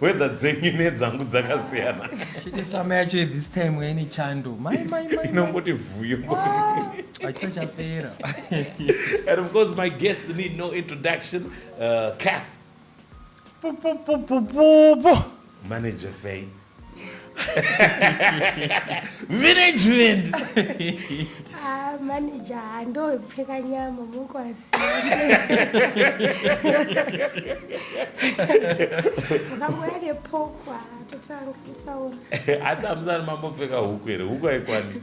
wedha dzenyu nedzangu dzakasiyana chitesama yacho this time yaine chando inongoti vhuyo achisa chapera and of course my guests need no introduction uh, cath manager fay management ah, manager handopfeka nyama mukwasi ukamboya nepokwa totanga kutaura asi amusani mambopfeka huku here huku haikwani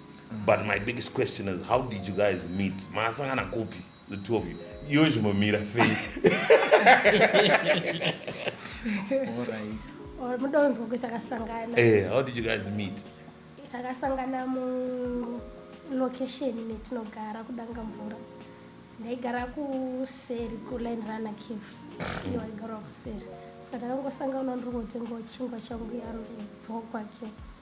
but my biggest question is how did you guys meet makasangana kupi the two of you iwe zvimomira fei mudonzwa kuti takasangana eh, how did you guys meet takasangana mulocation metinogara kudanga mvura ndaigara kuseri kuline runner cave iyo aigara kuseri saka takangosangana ndiri ngotengawo chingwa changu yaro bvoo kwake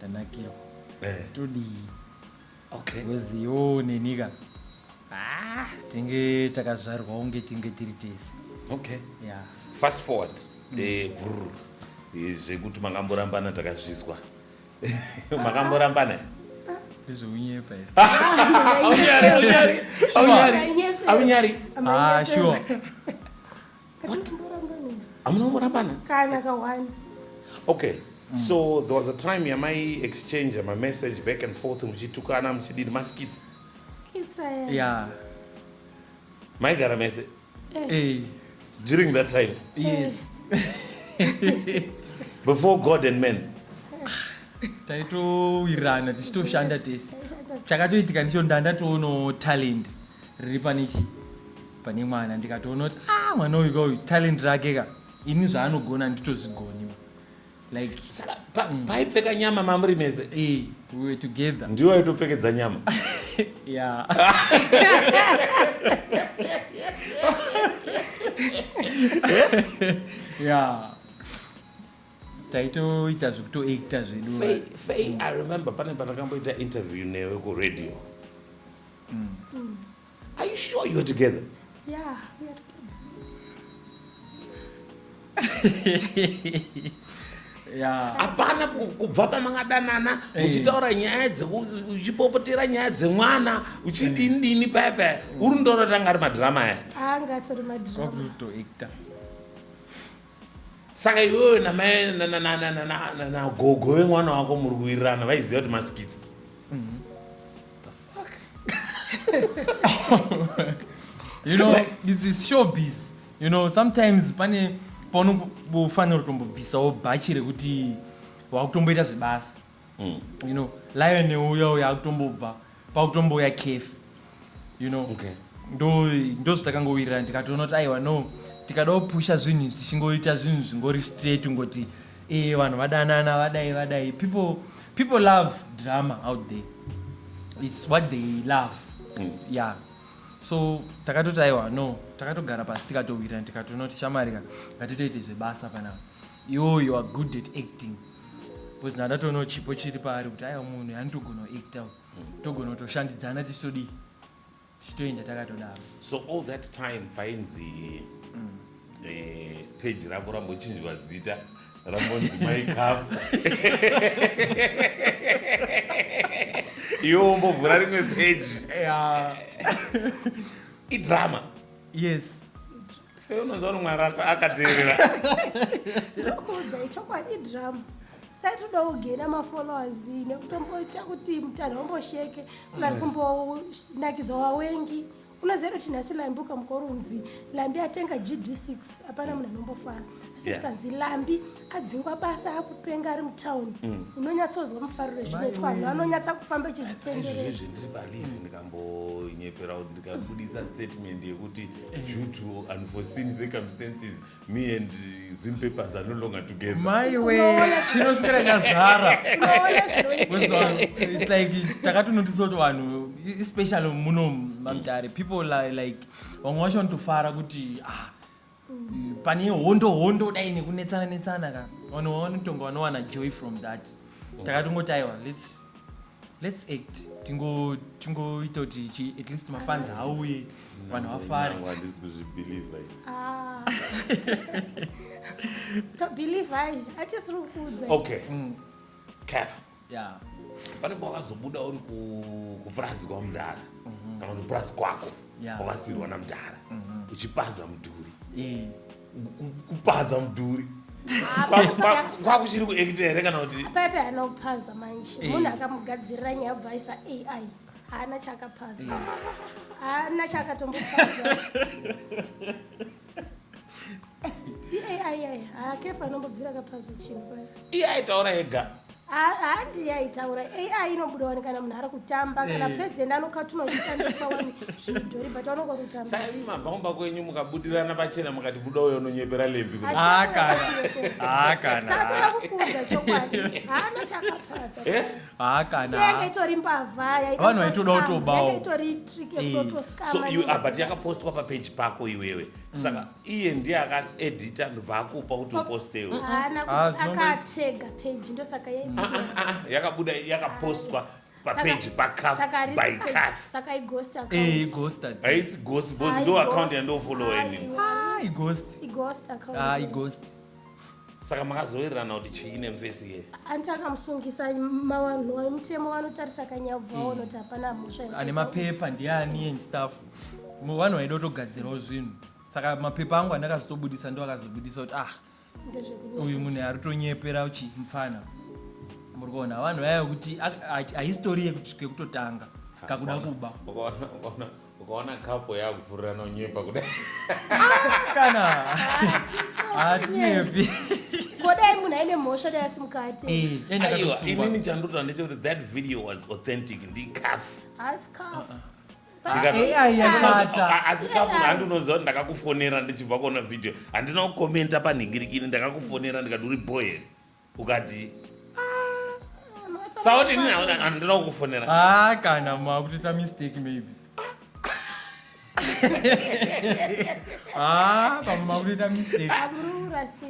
tanakirwa eh. todii okay. wezi yoo nenika ah, tinge takazvarwa unge tinge tiri tese okay. yeah. fast forward mm. eh, vrr, eh, zvekuti makamborambana takazvizwa makamborambana ndizvounyepa aunyari aunyari aunyari aunyari ah, sure hamuna kumborambana kana kawani okay mm. so there was a time yamai exchange mamessage back and forth muchitukana muchidini maskits yeah. maigara mese hey. Eh. Eh. during that time yes. Eh. before god and men taitowirana tichitoshanda tese chakatoitika ndicho ndandatoonawo talent riri pane chii pane mwana ndikatoona kuti ah mwana uyu kauyu talent rake ka ini zvaanogona handitozvigoni like paipfeka nyama mamuri mese eh, we were together ndiwo aitopfekedza nyama yeah yeah taitoita zvekutoacta zvedu i remember pane patakamboita interview newe kuradio mm. mm. Are you sure you're together? Yeah, we are together. hapana kubva pamangadanana eh. uchitaura nyaya uchipopotera nyaya dzemwana uchidini dini paya paya uri ndoro tanga ari madhirama aya saka iwewe namai nagogo vemwana wako muri kuwirirana vaiziva kuti masikitsi you know this is showbiz you know sometimes pane paunofanira kutombobvisawo bhachi rekuti wakutomboita zvebasa mm. you know lion neuya uya akutombobva pakutombouya cafe you know okay. ndozvatakangowirirana ndikatoona kuti aiwa no tikada kupusha zvinhu tichingoita zvinhu zvingori straight ungoti Eh vanhu vadanana vadai vadai people people love drama out there. It's what they love. Mm. Yeah. so takatoti aiwa no takatogara pasi tikatowirana tikatonoti chamarika ngatitoite zvebasa panapa iwo you are good at acting bcause ndatatoonao chipo chiri paari kuti aiwa munhu yanitogona kuacta togona kutoshandidzana tichitodii tichitoenda takatodaro so all that time painzi mm. eh, peji rako rambochinjwa zita rambonzi maikafu iwo umbovhura rimwe peji idrama yes fe unonzwa kuti mwari akateerera ndinokuudza ichokwadi idrama sati uda kugena mafollowers nekutomboita kuti mutanha umbosheke plus mm. kumbonakidza wawengi unoziva kuti nhasi lambi ukamuka urunzi lambi atenga gd6 hapana munhu anombofara asi zvikanzi lambi adzingwa basa akupenga ari mutown mm. unonyatsozwa mufariro zvinoitwa vanhu vanonyatsa kufamba echizvitendereizvi ndiri palive mm. ndikambonyepera kuti ndikabudisa statement yekuti eh. due to unforeseen circumstances me and zim papers are no longer together maiwe chinoswera nyazara its like takatonotisa kuti vanhu especially muno mamtare people like vamwe vacho vanotofara kuti ah pane hondo hondo dai nekunetsana netsana ka vanhu vanotonga vanowana joy from that takatingoti aiwa let's let's act tingo tingoita kuti chi at least mafans hauye vanhu vafare handisi kuzvibelieve ah. tobelieve hai atisiri kuudza okay mm. careful Yeah. pane nguva wakazobuda uri ku- kupurazi kwamudhara kana kuti kupurazi kwako Yeah. kwakasirwa namudhara uchipaza mudhuri Eh. Ku- kupaza mudhuri Kwaku- kwaku- kwakuchiri kuekita here kana kuti pepe haana kupaza manje Eh. munhu akamugadzirira nyaya bva aisa ai haana chaakapaza haana chaakatombopaza iye aitaura ega handi yaitaura ai inobuda wani kana munhu ari kutamba kana eh. president anokatuma zvishandiswa wani zvidhori but vanonga kutamba saimi mabva kumba kwenyu mukabudirana pachena mukati buda uyo unonyepera lembi kutaaakana ah, ah, ah, takukuudza chokwadi haana chakapasa eh? Ah, kana yanga itori mbavha vanhu vaitoda kutobawo itori trick eh. yekutotoskama so you are ah, but yakapostwa pa page pako iwewe mm. saka iye ndiye aka edita ndobva akupa kuti upostewe haana ah, kuti akatega page ndosaka yakabuda yakapostwa papeji pakafbycathsakaighostaisi ghost bcause ndo account yandofollowa ini saka makazoererana kuti chii nemvesi iye anti akamusungisa mavanhu vemutemo vanotarisa kanyabvu hmm. vaona kuti hapana mhosva ane mapepa ndiani and staff vanhu vaida kutogadzirawo zvinhu saka mapepa angu andakazotobudisa ndo akazobudisa kuti ah uyu munhu ari tonyepera uchi mupfana muri kuona vanhu vaya kuti ahistori yekutanga kakuda kuba ukaona kapo yakuvhurira nonyepa kudai ah, kana hatinyepi kodai munhu aine mhosva dai asi mukati eh, aiwa inini chandotoa ndechekuti that video was authentic ndicaf asi caf ah, ah. asi kafu handinoziva kuti ndakakufonera ndichibva kuona video handina kukomenta panhingirikini ndakakufonera ndikati uri boyeri ukadii sauti ini handina kukufonera ah kana makutoita mistake maybe ah pamwe makutoita mistake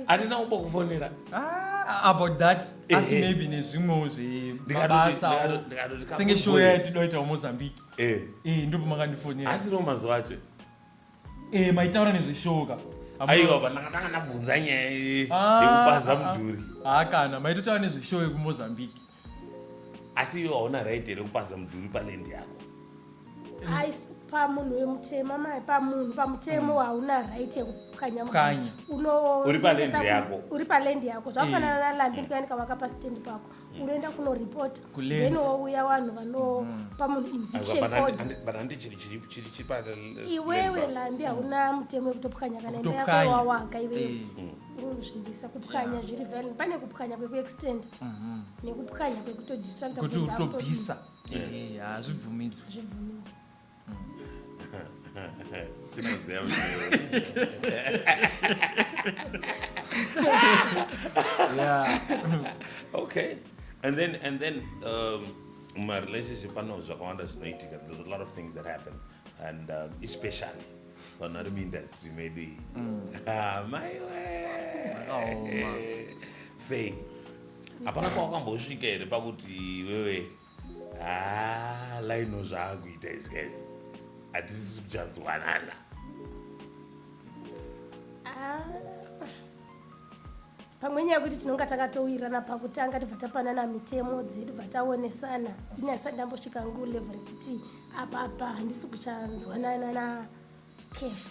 handina kumbokufonera ah, about that eh, asi eh. maybe nezvimwewo zvemabasa senge show yatinoita mozambique eh. ndopo makandifonera asi no mazuva acho Eh, maitaura nezveshowo ka Hamuna- aiwa pandakatanga ndabvunza nyaya ye- Ah, yekupaza ah, ah. mudhuri Ah, kana maitotaura nezveshowo yekumozambique asi iwe hauna right here kupaza mudhuri palendi yako Ais- pamunhu wemutema mai pamunhu pamutemo hauna right yekupwanya mudhuri. Pwanya. Uno- Uri pa land yako. uri palendi yako zvakafanana nalandini kuyanika waka pastendi pako unoenda kunoripota then wouya vanhu vanopa munhu invictioniwewe lambi hauna mutemo wekutopwanya kana imba yako wawaka iwewe unozvindisa kupwanya zviri vale pane kupwanya kwekuextenda mhm. nekupwanya kwekutodistracta kuti utobvisa hazvibvumidzwe chinoziva yeah. okay and then and then um, my relationship pano zvakawanda zvinoitika there's a lot of things that happen and um, especially vanhu vari muindustry medu iyi mm. ah, maiwe fei hapana kwawakambosvika here pakuti wewe haa lino zvaakuita izvi guys hatisisi kuchanzwanana Ah. pamwe nyaya yekuti tinonga takatowirirana pakutanga tibva tapanana mitemo dzedu bva taonesana ini handisati ndambosvika ngu level rekuti apapa handisi kuchanzwanana na kefi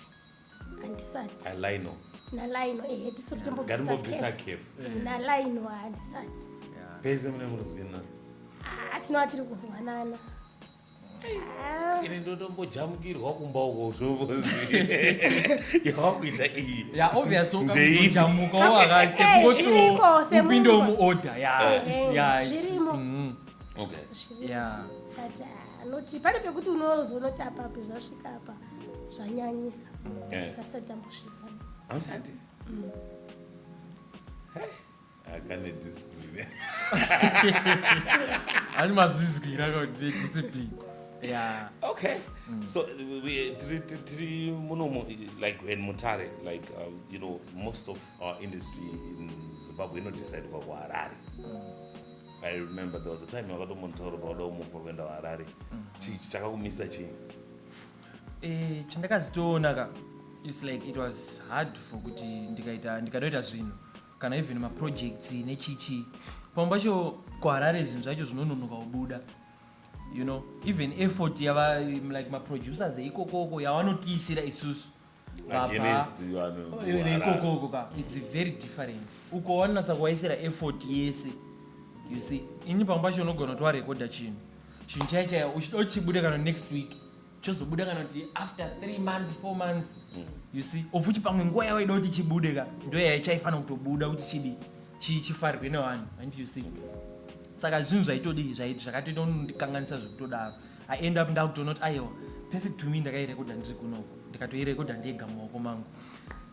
handisati alaino nalaino ehe tisu ngatimbobvisa kefu nalaino handisati pese mune murudzwina ah, tinova tiri kunzwanana ah. ini ndotombojamukirwa kumba uko zvovozi yawakuita iyi yaobvioujamuka wakatepingotiupinde muorder yazvirimo mm. okay yeah. but uh, noti pane pekuti unozonotapapi zvasvika apa zvanyanyisa eh. sasati ambosvika ausati mm. akane discipline ani mazvizwira kuti discipline yeah okay mm. so tiri munomo like when mutare like uh, you know most of our industry in zimbabwe inodisaidwa kuharare mm. i remember there was a time wakatomontaura pakuda kumubva kuenda kuharare mm. chii chakakumisa chii eh, chandakazitoona ka its like it was hard for kuti ndikaita ndikanoita zvinhu kana even maprojects nechichi pamwe pacho kuharare zvinhu zvacho zvinononoka kubuda you know even effort yava like maproducers eikokoko yavanotiisira isusu ikokoko ka its very different uko wanatsa kuwaisira effort yese you see ini pamwe pacho unogona kuti warekodha chinhu chinhu chai chaya uchida uchibuda kana next week chozobuda kana kuti after three months four months mm. you see of uchi pamwe nguva yawaida kuti chibude ka ndo yaya chaifanira kutobuda kuti chidi chifarirwe nevanhu and you see saka zvinhu zvaitodii zvakatoita kundikanganisa zvekutodaro I end up ndakutonoti aiwa perfect to me ndakairekodha ndiri kunoku ndikatoirekodha ndega mumaoko mangu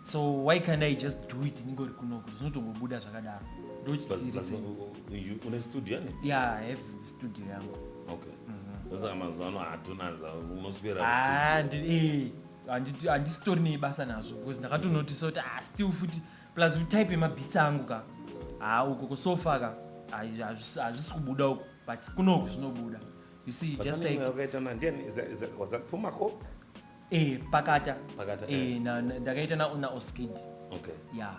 so why can't i just do it ndingori kunoku zvinotongobuda zvakadaro ndochiune studio yani ya have studio yangu okay mhm. saka mazuva ano hatuna unoswera ah, eh, handisitori nebasa nazvo because ndakatonotisa kuti ah, still futi plus type yemabhitsi angu ka haa ah, uko kosofa ka hazvisi kubuda uko but kunoku zvinobuda you see just like wakaita na ndiani is is was that puma ko eh pakata pakata eh, eh. na ndakaita na na oskid okay yeah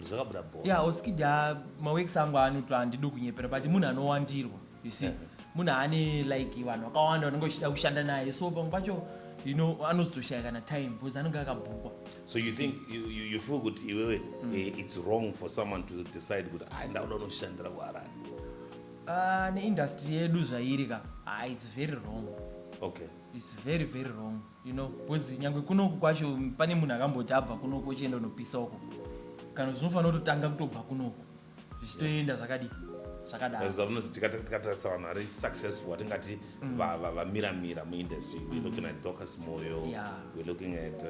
zvakabuda bho yeah oskid ya maweeks angu anoto andido kunyepera but munhu anowandirwa you see yeah. munhu ane like vanhu vakawanda vanenge vachida kushanda naye so pamwe pacho you know anozotoshaya kana time because anenge akabhukwa so you think you, you, you feel kuti iwewe mm. eh, it's wrong for someone to decide kuti aenda ah, uda unoshandira kuharani Ah, neindustry yedu zvairi ka ah, its very wrong okay its very very wrong you know because nyangwe kunoku kwacho pane munhu akamboti abva kunoku ochienda unopisa uko kana zvinofanira kutotanga kutobva kunoku zvichitoenda zvakadii zvakadaro zvaunonzi tikata- tikatarisa vanhu vari successful watingati va- va- vamiramira muindustry we're looking at docas moyo Yeah. we're looking at uh,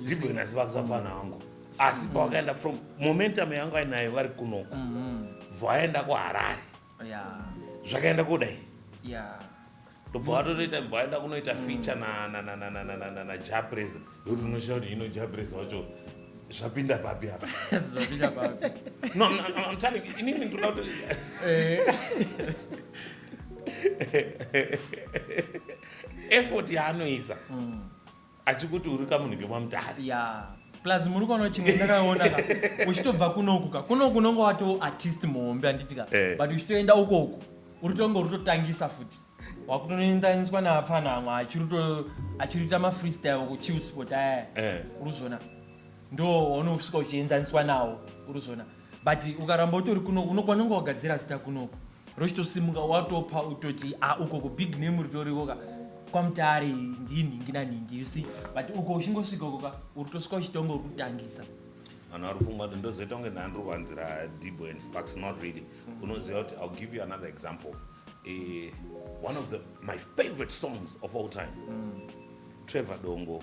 ndibwena ziva kusapfana hangu asi pawakaenda from momentum yangu ainayo vari kunoko mm-hmm. vaenda kuharare zvakaenda kudai ndobva vatotoita vaenda kunoita mm. feature najapresa yokuti unoshaa kuti ino japresa wacho zvapinda papi apa zvapinda papi no i'm telling you inini ndinoda kuti eh. effort yaanoisa mm. achikuti uri kamunhu kemwamutare ya plus muri kuona chimwe ndakaona ka uchitobva kunoku ka kunoku unonge wato artist muhombe handiti ka Eh. but uchitoenda ukoku uri tonge uri totangisa futi wakutonoenzaniswa naapfana amwe achiri to- achiri kuita mafreestyle kuchill spot aya Eh. uruzona ndo waunosvika uchienzaniswa nawo uruzona but ukaramba utori kuno unokwanonga wagadzira zita kunoko rochitosimuka watopa utoti a ah, uko kubig name ritorikoka kwamutare ndii nhingi nanhingi you see but uko uchingosvika ukoka uri tosvika uchitonga urikutangisa vanhu vari kufunga kuti ndozoita kunge ndandiri kuvanzira dibo and sparks not really unoziva kuti ill give you another example uh, one of the, my favorite songs of all time mm. trevor dongo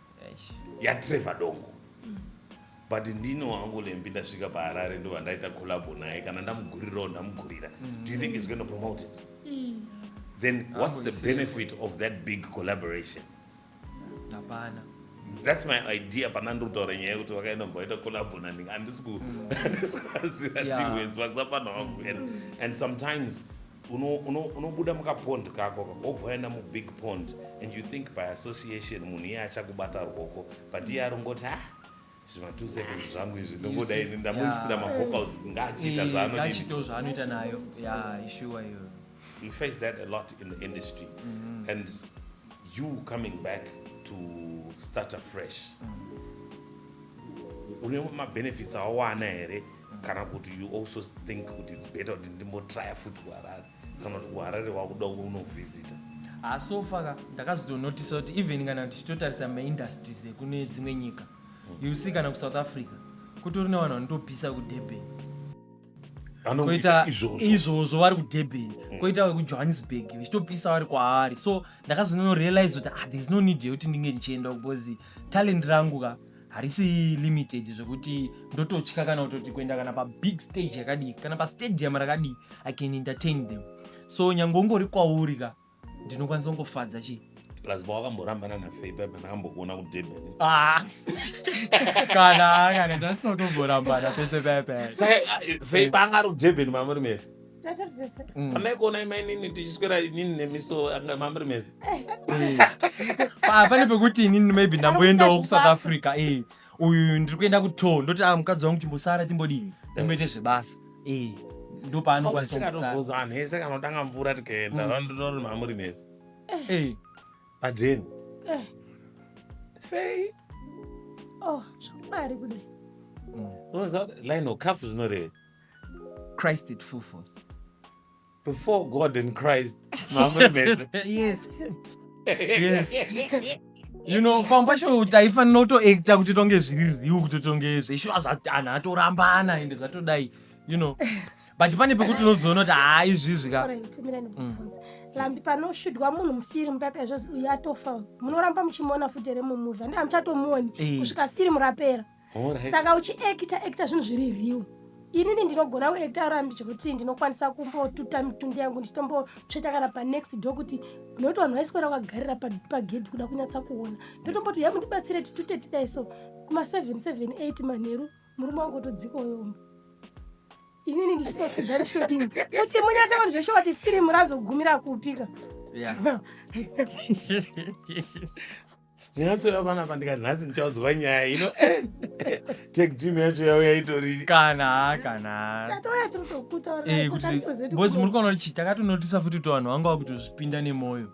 yatrevor dongo but ndino wangu lembi ndasvika paharare ndo vandaita collabo naye kana ndamugurirawo ndamugurira do you think is going to promote it then what's the benefit of that big collaboration hapana that's my idea pana ndiri kutaura nyaya yekuti vakaenda mva vaita collabo nani handisi kuhanzira tiwes vakisa pana wangu and sometimes unobuda uno, uno mukapond kako wobva waenda mubig pond and you think by association munhu iye achakubata rwoko but iye arongoti ah zvima two seconds zvangu izvi ndongoda ini ndamuisira mavocals ngaachiita zvaanoachitawo zvaanoita nayo ya ishuwa iyo we face that a lot in the industry mm -hmm. and you coming back to start afresh mm -hmm. une mabenefits awawana here kana kuti you also think kuti its better kuti ndimbotrya futi kuharare kana kuti kuharare wakuda unovhizita ah, sofa ka ndakazotonotisa kuti even kana tichitotarisa maindustries ekune dzimwe nyika hmm. you see kana kusouth africa kutori nevanhu vanotopisa kudurban koita izvozvo vari kudurban hmm. koita vekujohannesburg vechitopisa vari kwaari so ndakazononorealize kuti ah, thereis no need yekuti ndinge ndichienda because talent rangu ka harisi limited zvekuti ndototya kana kutoti kuenda kana pabig stage yakadii kana pastadium rakadii i can entertain them so nyange ungori kwauri ka ndinokwanisa kungofadza chii plus pawakamborambana nafei paipa ndakambokuona kudurban ah. kana kana ndasinotomborambana pese paipa saka fei panga ari kudurban mamuri mese pamaikuona mm. imainini tichiswera inini nemiso anga mamri mese eh, ah, pane pekuti inini maybe ndamboendawo kusouth africa eh, uyu ndiri kuenda kuto ndoti a ah, mukadzi wangu timbosara timbodini timboite eh. zvebasa ndopaanokwanisaatovhunza vanhu ese kana kutanga mvura tikaenda mm. vandotori mamuri mese padeni fei oh, zvamwari kudai mm. unoziva kuti line okafu zvinoreve Christ at full force. Before God and Christ. yes. yes. you know pamba sho taifanira kutoacta kuti tonge zviri riu kuti tonge zveshuwa zvatanhu atorambana ende zvatodai you know but pane pekuti unozoona kuti haa izvizvi ka lambi panoshudwa munhu mufirimu paipa zvozi uyu atofa munoramba muchimuona futi here mumuvi andii hamuchatomuoni eh. kusvika firimu rapera saka uchiekita ekita zvinhu zviri riu inini ndinogona kuekita rambi zvekuti ndinokwanisa kumbotuta mitundu yangu ndichitombotsveta kana panext do kuti nokuti vanhu vaiswera vakagarira pagedhi kuda kunyatsa kuona ndotomboti ya mundibatsire titute tidai so kuma 778 manheru murume wangu otodzika uyombo inini ndichitokidza ndichitodini kuti munyatsa kuti zveshe wati firimu razogumira kupika nhasi uya vana vandikati nhasi ndichaudzwa nyaya ino eh, eh, take team yacho yauya itori kana kana tatouya tiri Eh, kuti- bozi muri tokutaura kuona kuti takatonotisa futi kuti vanhu vanga vakutozvipinda nemwoyo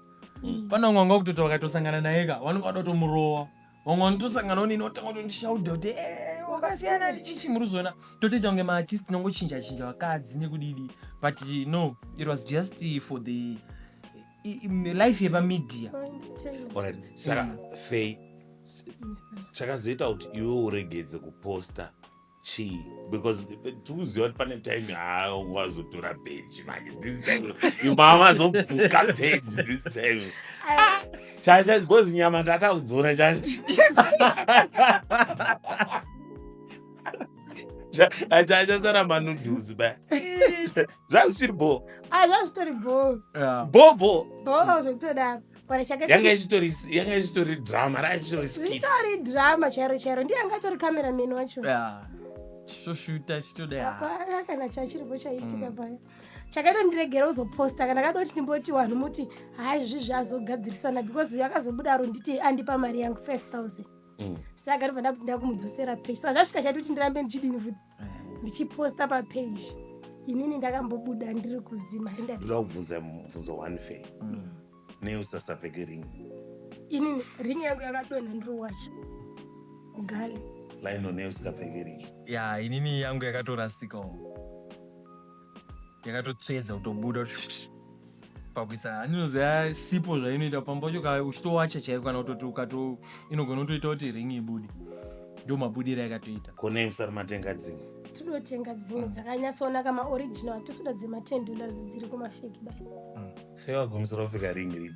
Mm. pane vamwe vanga vakutoti vakatosangana naye ka vanenge vada kutomurowa vamwe vanotosanganawo nini otanga kutondishauda kuti "Eh, wakasiyana nechichi muri kuzoona totoita kunge maartist tinongochinja chinja vakadzi nekudidi but no it was just for the life yepamedia saka mm. fei chakazoita kuti iwe uregedze kuposta chii because tikuziva kuti pane time yaawazotora peji manje this time imawazobvuka peji this time chacha because nyama ndakaudzora chacha achasara manudhuzi ba zvazvisiri bhoo Ah, zvazvitori bhoo Yeah. bhoo bhoo bhoo zvekutodaro kana chake yanga ichitori yanga ichitori drama ranga ichitori skit zvitori drama chairo chairo ndiye anga atori cameraman wacho Yeah. Tichitoshuta chitoda. yeah. hapana kana chachiripo chaiitika Mm. paya chakaita ndiregera uzoposta kana kada kuti ndimboti vanhu muti haa izvi zvazogadzirisana because uyu akazobuda aro nditi andipa mari yangu 5000 Mm. saka ndobva ndakuti ndakumudzosera pesa zvasvika chati kuti ndirambe ndichidini futi ndichiposta papage inini ndakambobuda ndiri kuzima ndoda kubvunza mubvunzo one fe mm. neusasapfeke ring inini ring yangu yakadonha ndiri wacha ugale laino neusingapfeke ring ya inini yangu yakatorasikawo yakatotsvedza kutobuda pakuisa haninoziva sipo zvainoita pamba pacho uchitowacha chaiko kana kutoti ukato inogona kutoita kuti ring ibude ndo mabudiro yakatoita konei musari matenga dzimwe tinotenga dzimwe dzakanyatsoonaka maoriginal hatisuda dzema ten dollars dziri kumafeki bai mm. fewagumisa rofika ring ripi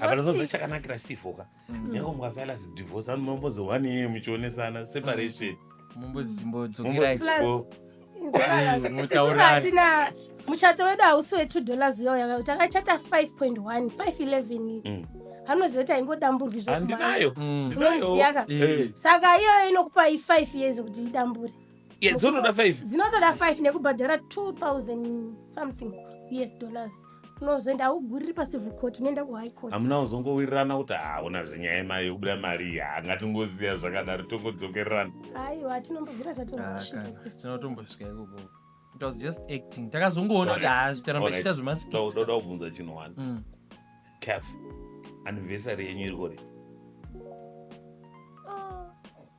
apanozonza chakanakira sifoka mm. nyange mukafela zidivorce anu mambozohwani yeye muchionesana separation mumbozimbodzokerahatina muchato wedu hausi we two dollars uyoya takachata five point one five eleven mm. anozoita ingodamburwi zvandinayo mm. unoiziyaka eh. saka iyoyo inokupai five years kuti idambure dzinotoda five nekubhadhara two thousand something us dollars unozoenda hauguriri pacivil court unoenda kuhigh court hamuna kuzongowirirana kuti hauna zvenyaya yemari yokubuda mari iyi hanga tingoziva zvakadaro tongodzokererana aiwa tinombobvira Ah, tatorashika kana. kwese tinotombosvika ikoko it was just acting takazongoona kuti Alright. haa zvitaramba Alright. chiita zvemaskits ndoda kubvunza chinhu wani Mm. caf anniversary yenyu iri kuri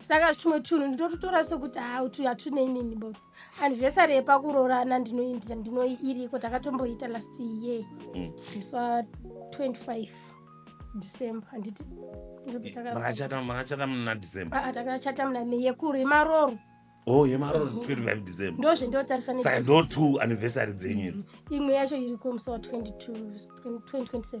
saka tumwe tunhu ndinototora sokuti ha utu hatune inini bo anivhesari yepakuroorana ndinoindira ndino iriko takatomboita last year mm. sa 25 december handiti makachata makachata muna december aa ah, ah, takachata muna me yekuru yemaroro oh yemaroro 25 december ndozve ndotarisa saka ndo two anniversary dzenyu idzi mm. imwe yacho iriko musi wa 22 2027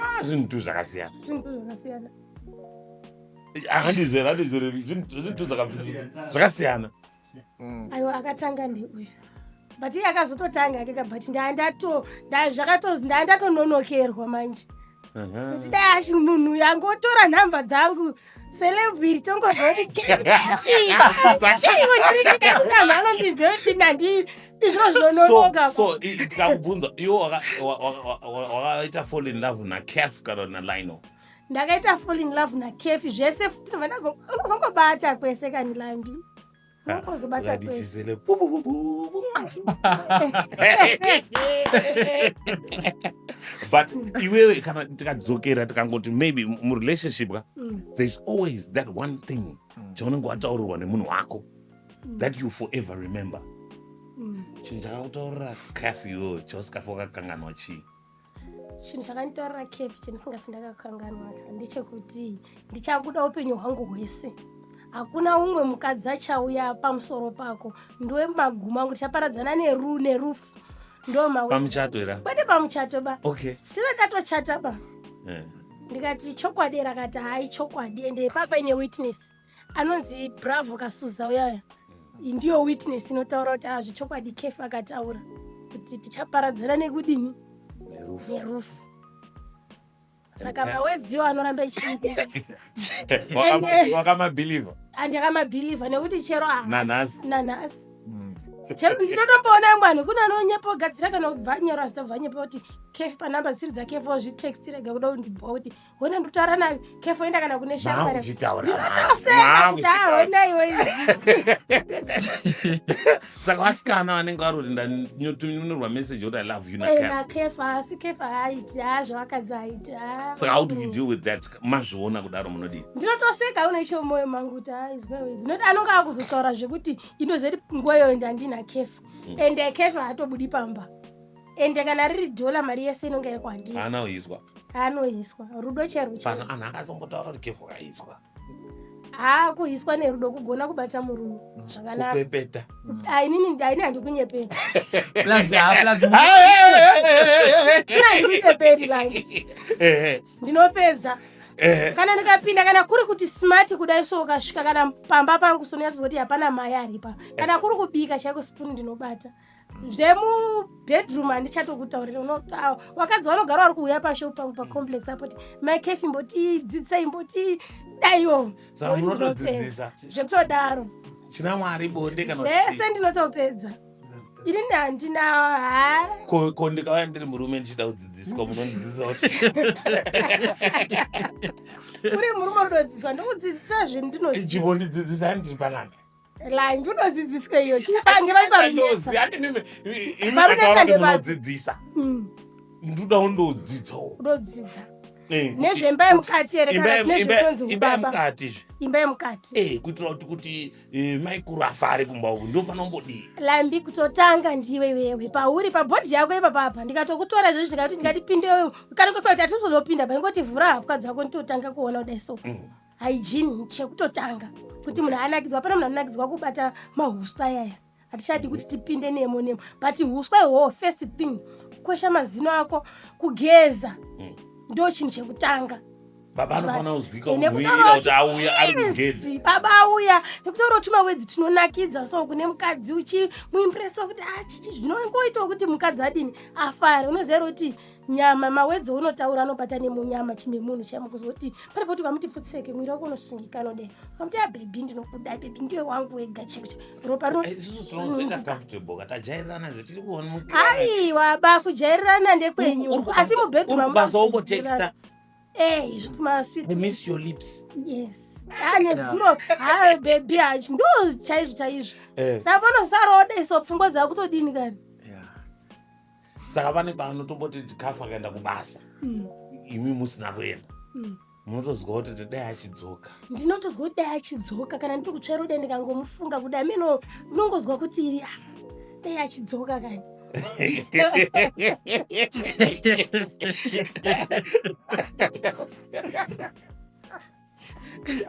ah, zvinhu tu zvakasiyana akandizera andizere zvinhu tu zvakasiyana mm. aiwa akatanga ndeuyu but iye akazototanga ake ka but ndandatononokerwa manje kuti dai ashi munhu yangu otora nhamba dzangu celebiri tongoziva kuti chaiwo chiriikamha anondiziva kuti nandi izvino zvinononokatikakubvunza iwo wakaita fall in love nacaf kana nalino ndakaita fall in love nacaf zvese futi vanozongobata kwese kani landi Wozobata Lady kwese. Gisele. Bu, bu, bu, bu, bu. but iwewe kana tikadzokera tikangoti maybe murelationship ka Mm, there's always that one thing Mm. chaunenge wataurirwa nemunhu wako mm, that you forever remember mm. chinhu chakakutaurira caf iwewe chausikafa wakakanganwa chii chinhu chakanditorera kefi chandisingafi ndakakanganwa ndechekuti ndichakuda upenyu hwangu hwese hakuna umwe mukadzi achauya pamusoro pako ndiwe maguma angu tichaparadzana neru nerufu ndomapamuchato era kwete pamuchato ba okay tirakatochata ba eh. ndikati chokwadi rakati hai chokwadi ende papaine witness anonzi bravo kasuza uyaya mm. ndiyo witness inotaura kuti hazvi ah, chokwadi kefu akataura kuti tichaparadzana nekudini nerufu saka mawedziwo anoramba ichiiwakamabhilivha andakamabhilivha nekuti chero nanhasi nanhasi mm. chero ndinotomboona amwe anhu kune anonyepa ogadzira kana ubvanyero asita bvanyepa kuti kefi panamba dzisiri dzakefi ozvitext rega kuda kundibhoa kuti hona ndikutaura nayo kefo enda kana kune saka vasikana vanenge vari kuti ndatuminorwa message oti i love you nakefa eh, asi kefa haaiti ha zvavakadzi haaiti ha saka how do you deal with that mazviona kudaro munodii ndinotoseka unoisho moyo mangu kuti ha izwewe ndinoti anonga akuzotaura zvekuti inozoti nguva yoyo ndandina kefa mm. ende kefa haatobudi pamba ende kana riri dhola mari yese inonge iri kwandiri anoizwa anoiswa rudo chairwo pano chairwo anhu akazombotaura kuti kevho kaizwa haa kuhiswa nerudo kugona kubata murume zvakanaka kupepeta Ah, inini ini handikunyeperi plus ah, plus mu- ini handikunyeperi vange Eh, ndinopedza eh, kana ndikapinda kana kuri kuti smart kudai so ukasvika kana pamba pangu sonyatsozoti hapana mai aripa kana kuri kubika chaiko spoon ndinobata zvemubedroom handichatokutaurira unotaa wakadzi vanogara vari kuuya pashop pangu pacomplex apoti mai kefi mbotii dzidzisai mbotii daiwo Saka munotodzidzisa zvekutodaro china mwari bonde kana kuti zvese chii? ndinotopedza ini ni handina haa Ko- ko ndikauya ndiri murume ndichida kudzidziswa munondidzidzisa kuti uri murume unotodzidziswa ndokudzidzisa zvendinoziva chibondidzidzisa ndiri panana langi unodzidziswa iyo chipange vaiparunodzidzisa mm. ndoda undodzidzawo unodzidza eh, nezvemba yemukati ere kana tine zvekunzi imba yemukati izvi imba yemukati eh kuitira kuti kuti eh, maikuru afare kumba uku ndinofanira kumbodii lambi kutotanga ndiwe wewe pauri pabhodhi yako ipapa apa ndikatokutora izvozvi ndikati ndikatipinde wewe kana kwekwe kuti atizozopinda pa ndingoti vhura hapwa dzako nditotanga kuona kudai so mm. hygiene chekutotanga kuti munhu anakidzwa hapana munhu anonakidzwa kubata mahuswa yaya hatichadi kuti tipinde nemo nemo but huswa ihwohwo first thing kukwesha mazino ako kugeza mm. ndo chinhu chekutanga baba anofanira kuzwika kuhwira kuti auya ari kugezi baba auya nekutaura kuti mawedzi tinonakidza so kune mukadzi uchimuimpresa kuti achichi ah, zvinongoitawo kuti mukadzi adini afare unoziva kuti nyama mawedzo unotaura anobata nemunyama chimwe munhu chaimo kuzoti pane poti ukamuti pfutseke mwiri wako unosungika anodai ukamuti abhebhi ah, ndinokuda bhebhi ndiwe wangu wega chiro ropa rinoaiwa ba kujairirana ndekwenyu asi mubhedhurubasa anezuro haa bhebhi hachi ndo chaizvo chaizvo eh. saka panosaroda iso pfungwa dzakutodini kani saka vane pavanotomboti ndikafa akaenda kubasa mm. imi musina kuenda mm. munotozwa kuti tidai achidzoka ndinotozwa kuti dai achidzoka kana ndiri kutsvaira kudai ndikangomufunga kudai mino unongozwa kuti ah, dai achidzoka kani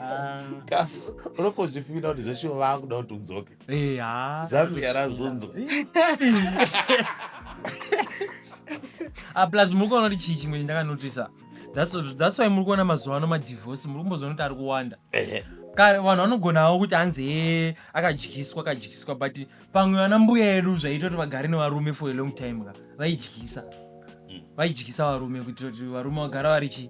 Ah. unopozvifingira kuti zveshuwa vakuda kuti udzoke Eh, ah. zambia razunzwa Ah, plus muri kuona kuti chii chimwe chandakanotisa That's why- that's why muri kuona mazuva ano madivorce muri kumbozoona kuti ari kuwanda Ehe. kare vanhu vanogonawo kuti hanzi he akadyiswa akadyiswa but pamwe vana mbuya yedu zvaiita kuti vagare nevarume for a long time ka vaidyisa Mm. vaidyisa varume kuitira kuti varume vagara vari chi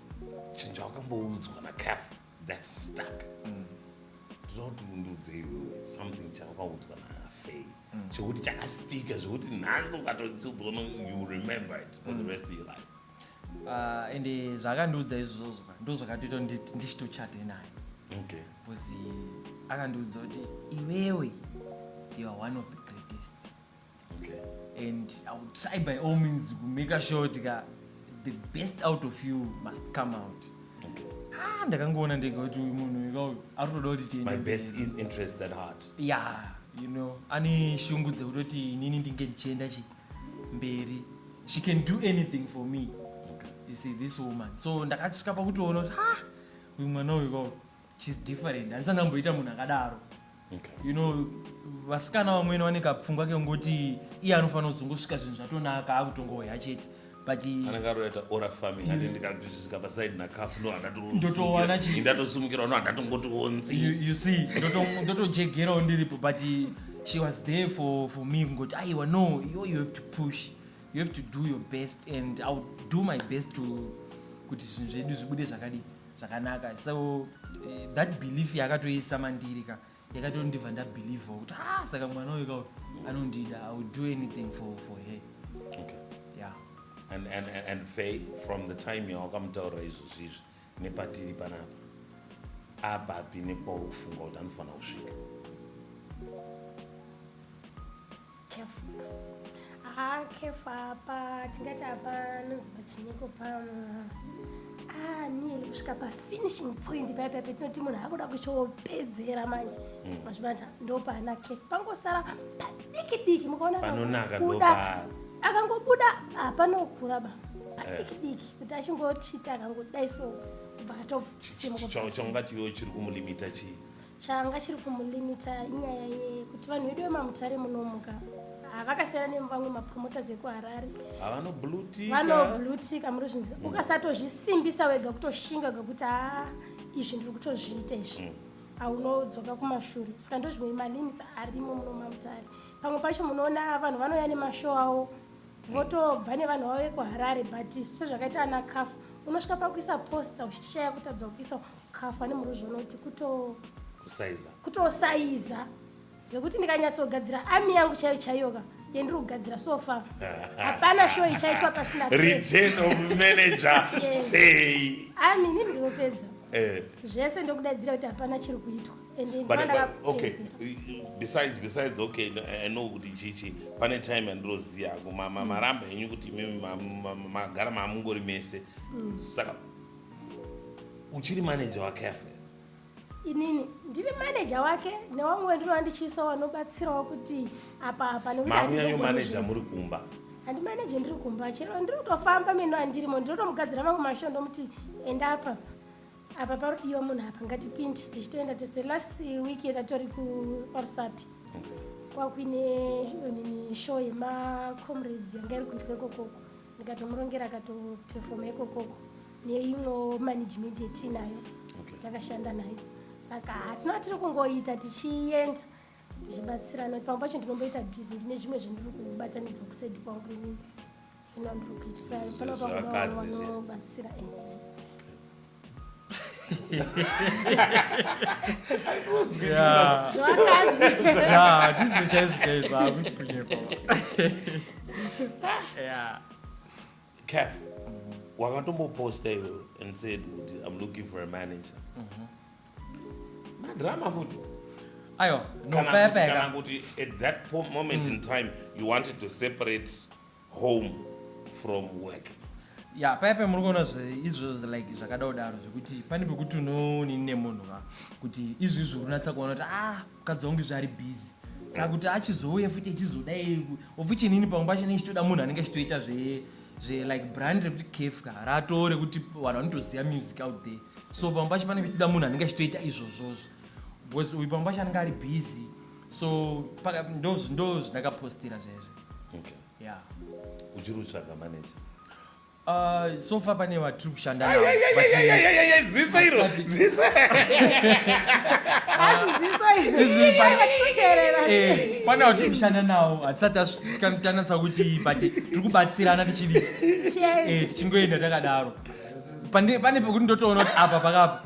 chinhu chawakamboudzwa nacaf that stuck mm. ndinokuti mundiudze iwewe something chawakaudzwa nafei mm. chekuti chakastika zvekuti nhanzi ukatochiudzwa you remember it for the mm. rest of your life ah, and eh, zvakandiudza izvozvo ndozvakatoita ndichitochate naye okay bcause akandiudza kuti iwewe you are one of the greatest Okay. And I will try by all means to make a sure tika the best out of you must come out. Okay. Ah, ndakangoona ndega kuti uyu munhu ika uyu ari kutoda kuti tiende. My best mberi. in interest at heart. Yeah, you know, ane shungu dzekutoti inini ndinge ndichienda chi mberi. She can do anything for me. Okay. You see this woman. So ndakasvika pakutoona kuti ah, uyu mwana uyu ka uyu. she's different handisa ndamboita munhu akadaro okay. you know vasikana vamwene vane kapfungwa kekungoti iye anofanira kuzongosvika zvinhu zvatonaka akutongohoya chete ndotowanandotosimukirawo no handatongotionziu see ndotojegerawo ndiripo but she was there for, for me kungoti aiwa no yo you have to push you have to do your best and iwill do my best to kuti zvinhu zvedu zvibude zvakadii zvakanaka so eh, that belief yakatoisa mandiri ka yakatondiva ndabelieve kuti ah saka mwana uyu ka anondida i will do anything for, for her okay. yeah. and, and, and fay from the time yawakamutaurira izvo zvizvi nepatiri panapa apapi nekwauri kufunga kuti anofanira kusvika Careful. Ah, careful apa tingati apa nonzi pachiniko pano. Ah, niyeli kusvika pa finishing point paya paya petinoti munhu akuda kuchopedzera manje. Mm. Mazvibata ndopaana careful. Pangosara padiki diki mukaona panonaka ndopa. Akangobuda apanokura ah, ba. Padiki eh. diki kuti achingochita akangodai so. Bva atosimuka. Chongati yo chiri kumulimita chii? changa chiri kumulimita inyaya yekuti vanhu vedu vemamutare munomuka havakasiyana nemuvamwe mapromoters ekuharare vanoblutika muri zvinzi mm. ukasatozvisimbisa wega kutoshinga gakuti haa izvi ndiri kutozviita izvi mm. haunodzoka kumashure saka ndo zvimwe malimits arimo muno mamutare pamwe pacho munoona vanhu vanouya nemashow avo votobva nevanhu vavo vekuharare but sezvakaita ana cafu unosvika pakuisa posta uchitishaya kutadza kuisa kafa nemuruzvi unoti kuto kusaiza kutosaiza zvekuti ndikanyatsogadzira ami yangu chaiyo chaiyoka yendiri kugadzira sofa hapana show ichaitwa pasina tape. return of manager Yes. hey ami ini ndinopedza eh zvese ndokudaidzira kuti hapana chiri kuitwa ende but, ndivana but okay vakupedzera besides besides okay no, i know kuti chichi pane time yandiroziva hangu ma- ma- maramba henyu kuti imimi ma- ma- ma- magara maamungori mese saka uchiri manager wake afe inini ndiri manager wake newamwe wendino andichiisa wanobatsirawo kuti apa apa nekutinyanyo manager muri kumba handi manager ndiri kumba chero ndiri kutofamba mino andirimo ndinotomugadzira mangu masho ndomuti enda apa apa parudiwa munhu apa ngatipindi tichitoenda tese last week yetatori kuparusapi kwakuine show yemacomrades yanga iri kuitwa ikokoko ndikatomurongera akatoperfoma ikokoko neimwewo management yetiinayo okay. takashanda nayo saka hatina tiri kungoita tichienda tichibatsirana pamwe pacho ndinomboita busy ndine zvimwe zvandiri kubatanidzwa kusedi kwangu inini zvino ndiri kuita saka panopakubatsira ndizvo chaizvo chaizvo hakusi kunyepa caf wakatomboposta iwewe and said kuti im looking for a manager mhm. madrama futi aiwa nopayapayakana kuti at that moment in mm. time you wanted to separate home from work ya paya paya muri kuona izvo like zvakadao daro zvekuti pane pekuti unonini nemunhu ka kuti izvi izvi unatsa kuona kuti ah mukadzi wangu izvi ari busy saka kuti achizouya futi achizodai ofuti inini pamwe pacho ne ichitoda munhu anenge achitoita zve zve like brand rekuti caf ka ratoo rekuti vanhu vanotoziva music out there so pamwe pacho panenge achitoda munhu anenge achitoita izvozvozvo because uyu pamwe pacho anenge ari busy so paka ndo ndo zvandakapostira zvezvo okay yeah uchiri kutsvaga manager Uh, so far pane vatiri kushanda navo, Ai, ai, but ai, ai, we- ai, ai, ai, ai, ziso iro Asati- ziso Izvi pa- Azizisaiaatikuterera Eh, pane vatiri kushanda nawo hatisati tasvika- tanatsa kuti but tiri kubatsirana tichidi eh, tichingoenda takadaro Pande- pane pekuti ndotoona kuti apa pakapa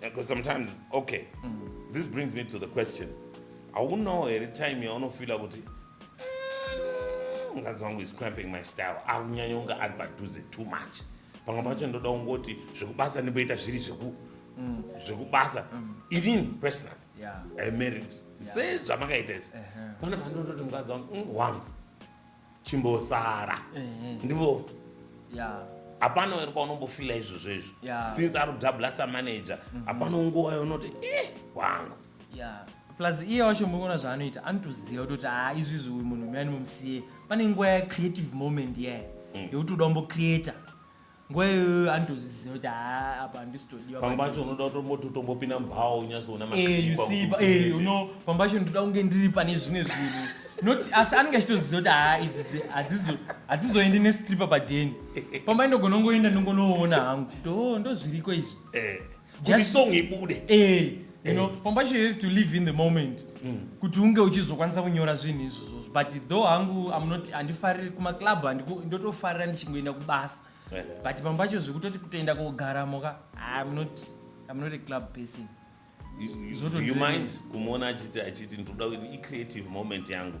because sometimes okay mm. this brings me to the question haunawo here time yaunofila kuti mm, mukadzi wangu is cramping my style akunyanya unga ari padhuze too much pamwe pacho ndoda kungoti zvekubasa ndimboita zviri zveku mm. zvekubasa mm. inini personal yeah. i married yeah. sezvamakaita izvi uh-huh. pana pandototi mukadzi wangu mm, wangu chimbosara eh, eh. ndivo hapana uri paunombofila izvozvo izvo since ari kudabla samanager mhm. hapana nguva younoti eh, wangu plus iye wacho muona zvaanoita anotoziva kutoti ha ah, izvi izvi uyu munhu muyani mumusiye pane nguva yacreative moment iyaye mm. yekuti uda umbocreata nguva iyoyo anotozviziva kuti haa apa handisitodiwa pamba pacho unoda kutomboti utombopinda mubhawa unyazoona pamba cho ndoda kunge ndiri pane zvimwe zvinhu not asi anenge achitoziva kuti haa idzi hadzizoendi nestripa padheni pamba inogona kungoenda ndongonoona hangu to ndozviriko izvi eh. kuti song ibude eh you know eh. pambacho you have to live in the moment mm. kuti unge uchizokwanisa kunyora zvinhu izvozvo but though hangu am not handifariri kumaclub ndotofarira ndichingoenda kubasa eh. but pambacho zvekutoti kutoenda kogaramo ka am not am not a club person you mind kumuona achiti achiti ndinoda icreative moment yangu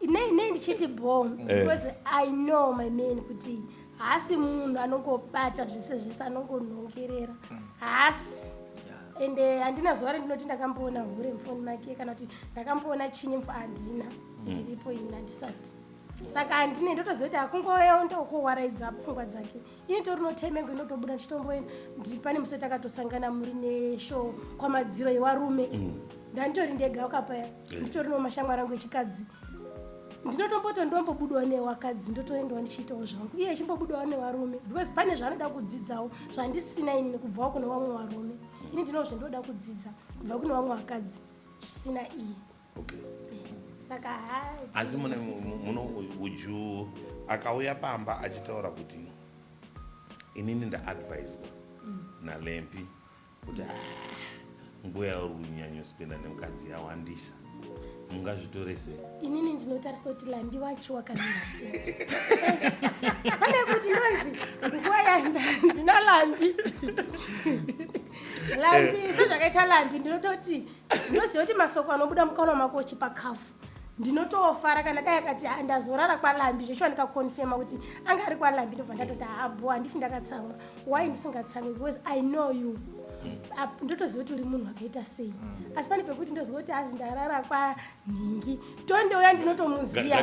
nei nei ndichiti bho eh. because i know my man kuti haasi munhu anongobata zvese zvese anongonhongerera haasi ende handina zuva rendinoti ndakamboona hure mufoni make kana kuti ndakamboona chinyi mfu handina mm. ndiripo ini handisati saka handine ndotoziva kuti akungoyonda ukuwaraidza pfungwa dzake ini tori notime yangu inotobuda ndichitomboenda ndi pane musi takatosangana muri neshow kwamadziro yevarume mm. ndanditori ndega wakapaya eh. nditori nomashamwari angu echikadzi ndinotomboto ndombobudawo newakadzi ndotoendawo ndichiitawo zvangu iye achimbobudawo nevarume because pane zvaanoda kudzidzawo zvandisina ini nekubvawo kune vamwe varume ini ndinoo zvendoda kudzidza kubva kune vamwe vakadzi zvisina iye okay. saka hai asi mune muno would you akauya pamba achitaura kuti inini ndaadviswa nalempi kuti "Ah, nguva yauri kunyanyospenda nemukadzi yawandisa mungazvitore sei inini ndinotarisa kuti lambi wacho wakamira sei pane kuti ndonzi nguva yandanzi nalambi lambi sezvakaita lambi ndinototi unoziva kuti masoko anobuda mukanwa mako uchipa kafu ndinotofara kana dai akati ah, ndazorara kwalambi zveshuwa ndikakonfirma kuti anga ari kwalambi ndobva ndatoti haabo ah, handifi ndakatsamwa why ndisingatsamwi because i know you ndotoziva kuti uri munhu akaita sei mm. asi pane pekuti ndoziva kuti azi ndarara kwanhingi tonde uya ndinotomuziva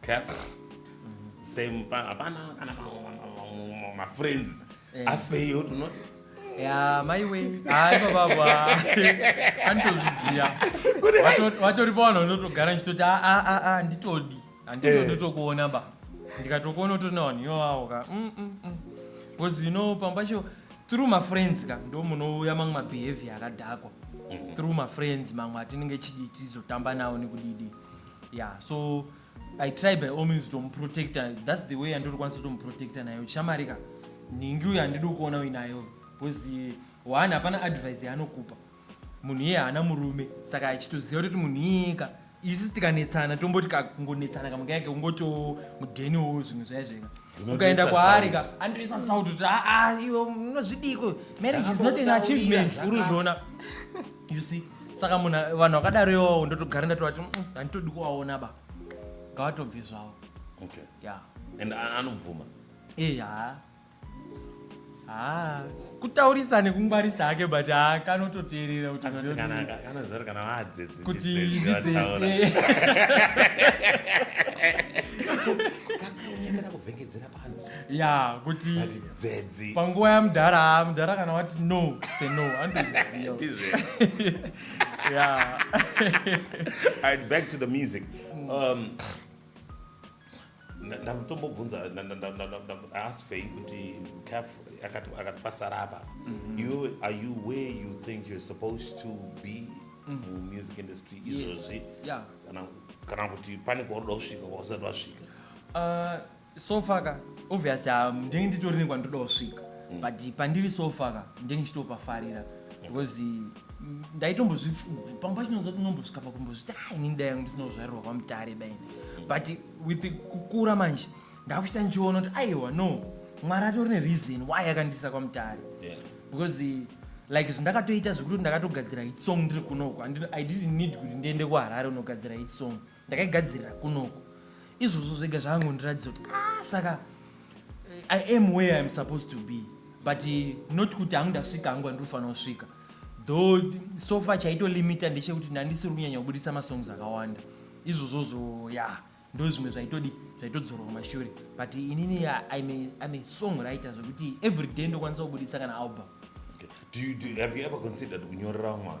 cap same pa- hapana kana ma- ma- ma- ma- ma- mafriends Eh. afeyo tunoti ya maiwe haiko baba anitozviziva Wato- watori pavanhu vanotogara ndichitoti "Ah, ah, ah, ah, nditodi handito Eh. nditokuona ba ndikatokuona utori navanhu iwawawo ka Mm, mm, mm. because you know pamba cho through mafriends ka ndo munouya mamwe mabehavior akadhakwa through mafriends mamwe atinenge chidi tizotamba nawo nekudidi yeah so i try by all means tomuprotecta thats the way yandiri kwanisa tomuprotecta nayo shamari ka nhingi uyo handidi kuona uinayo because one hapana advice yaanokupa munhu iye haana murume saka achitoziva kutoti munhu iyeka isu tikanetsana tomboti kakungonetsana kamuka yake kungotiwo mudheniwo zvimwe zvaya zveka ukaenda kwaari ka andoisa saut kuti aa ah, ah, iwe unozvidiko marriage is not an achievement uri zviona you see saka munhu vanhu vakadaro iwawo ndotogara ndatovati "Mm, handitodi kuvaona ba ngavatobve zvavo okay ya and a- anobvuma ee haa haa kutaurisa nekungwarisa hake but haa kanototeerera kuti anoti zione- kana kana zari kana vadzedzi kuti ndidzedzi vataura ndidzese kakaunyemera kuvhengedzera ya kuti panguva yamudhara mudhara kana wati no se no back to the music mm. um, ndamutombobvunza ask fei kuti caf akatipasara apa mm-hmm. you are you where you think you're supposed to be mm. mumusic industry izvozvi kana kuti pane kwaunoda kusvika kwausati wasvika uh, so far ka obviously ah, ndenge nditori nekwa ndoda kusvika mm. but pandiri so far ka ndenge ndichitopafarira because mm, ndaitombozvipfubvi pamba chinonza kuti unombosvika pakumbozviti a ah, ini ndida yangu ndisina kuzvarirwa kwamutare daini mm. but with kukura manje ndakuchita ndichiona kuti aiwa no mwari atori nereason why akandiisa kwamutare because eh, like zvindakatoita zvekuti ndakatogadzira hit song ndiri kunoko i didn't need kuti ndiende kuharare unogadzira hit song ndakaigadzirira kunoko izvozvo zvega zvakangondiratidza kuti ah, saka eh, i am where iam supposed to be but eh, not kuti hangu ndasvika hangu andinofanira kusvika though sofa chaitolimita ndechekuti ndandisiri kunyanya kubudisa masongs akawanda izvozvozvo ya yeah ndo zvimwe zvaitodi zvaitodzorwa kumashure but inini im a song writer zvekuti every day ndokwanisa kubudisa kana album okay. do you, do you, have you ever considered kunyorera mwana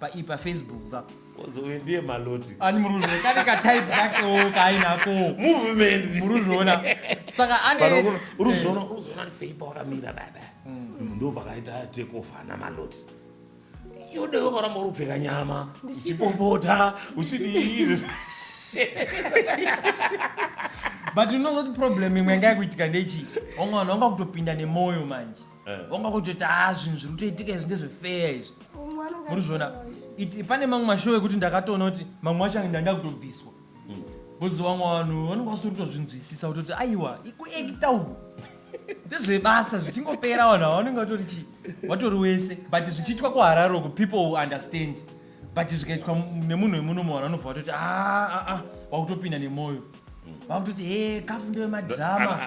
paii pafacebook ka Kozouye ndiye maloti ani muri kuzviona kane katype kakewo kaainako movement muri kuzviona saka Vanhu ane vakuru- uri kuzviona uri kuzviona kuti feipa wakamira baba Mm, ndo pakaita take off ana maloti yode wakaramba uri kupfeka nyama uchipopota uchidii but unozoti problem imwe yanga yakuitika ndechii wamwe vanhu vanga kutopinda nemwoyo manje Eh. wanga kutoti haa zvinhu zviri kutoitika izvi ndezvefeya izvi muri zviona pane mamwe mashow ekuti ndakatoona kuti mamwe acho ange ndakutobviswa hmm. bcoz vamwe vanhu vanenge vasiri kutozvinzwisisa kutoti aiwa ikuekita uku ndezvebasa zvichingopera vanhu ava vanenge vatori chii vatori wese but zvichiitwa kuhararo ku people who understand but zvikaitwa nemunhu wemunomo vanhu vanobva vatoti aa ah, ah, ah, vakutopinda nemwoyo vakutoti he kafu ndewe madrama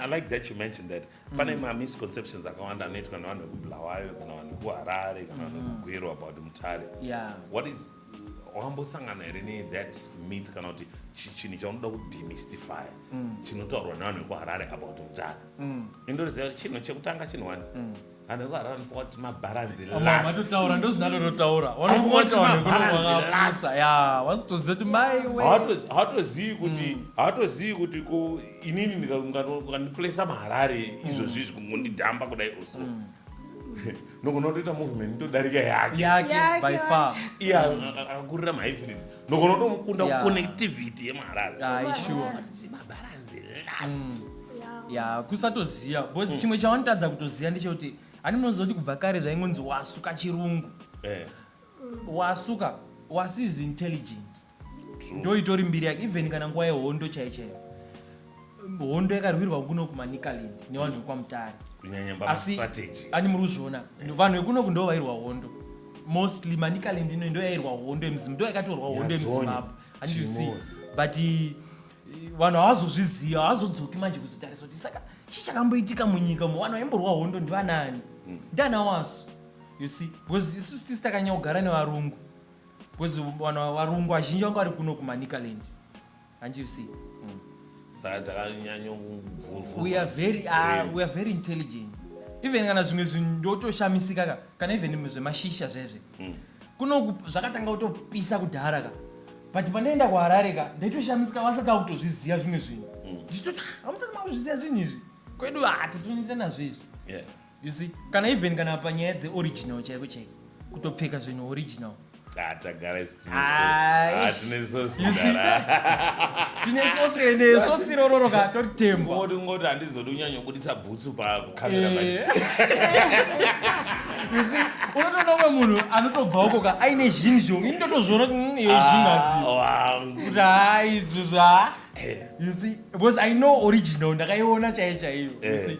pane mm. mamisconceptions akawanda anoitwa nevanhu vekubulawayo kana vanhu vekuharare kana vanhu mm. vekugwero about mutare yeah. what is wambosangana here nethat myth kana kuti chinhu chaunoda kudemystify mm. chinotaurwa nevanhu vekuharare about mutare mm. indoziva kuti chinhu chekutanga chinhu wani mm. vanhu vekuharare vanofunga kuti mabharanzi lastmatotaura ndozvinalo rotaura vanofunga kuti vanhu vekunovaasa ya wasitoziva kuti maiwe hawatozivi kuti hawatozivi kuti inini ndikandiplesa maharare izvozvi izvi kungondidhamba kudai uso mm. nogona kutoita movement nitodarika yakeakakurira mahifiritsi nogona kutomukunda kuconnectivity yemaharare mabaranzi last mm. ya kusatoziva bcause mm. chimwe chawanotadza kutoziva ndechekuti ani munozoti kubva kare zvaingonzi wasuka chirungu eh. wasuka was is intelligent ndoitori mbiri yake even kana nguva yehondo chai chai hondo yakarwirwa kuno kumanicalind nevanhu vekwamutare asi ani muri kuzviona vanhu vekunoku ndo vairwa hondo mostly manicalind ino ndo yairwa hondo yemuzim ndo yakatorwa hondo yemuzimbabwe andisi but eh, vanhu havazozvizivi havazodzoki manje kuzotarisa kuti saka chii chakamboitika munyika mu vanhu vaimborwa hondo ndivanani mm. ndiana wasu you see because isusu tisi takanyanya kugara nevarungu Because vana varungu vazhinji vanga vari kuno kuManicaland. Can't you see? Saka takanyanyo kuvhurwa. We are very ah, we are very intelligent. Even kana zvimwe zvinhu ndotoshamisika ka kana even zvemashisha zvezve. Mm. Kuno ku- zvakatanga kutopisa kudhara ka. But panoenda kuHarare ka ndaitoshamisika vasaka kutozviziva zvimwe zvinhu. Ndichitoti "Ah, hamusati makuzviziva zvinhu izvi. Kwedu ah tatoita nazvo izvi. Yeah. you see kana even kana panyaya dzeoriginal chaiko chaiko kutopfeka zvinhu original Ah, tagara isu tine Ah, sosi. Ah, ish. tine sosi You see? mdara. tine sosi ende sosi rororo ka tori tembo Ungoti- ungoti handizodi unyanyobudisa bhutsu pakamera manje. Eh. You see, unotoona umwe munhu anotobva uko ka aine zhinhu zhongu ini ndotozviona kuti mm, iyo zhinhu Ah, asi wangu. kuti haa izvo zva Eh. you see because i know original ndakaiona chaiyo chaiyo you Eh. see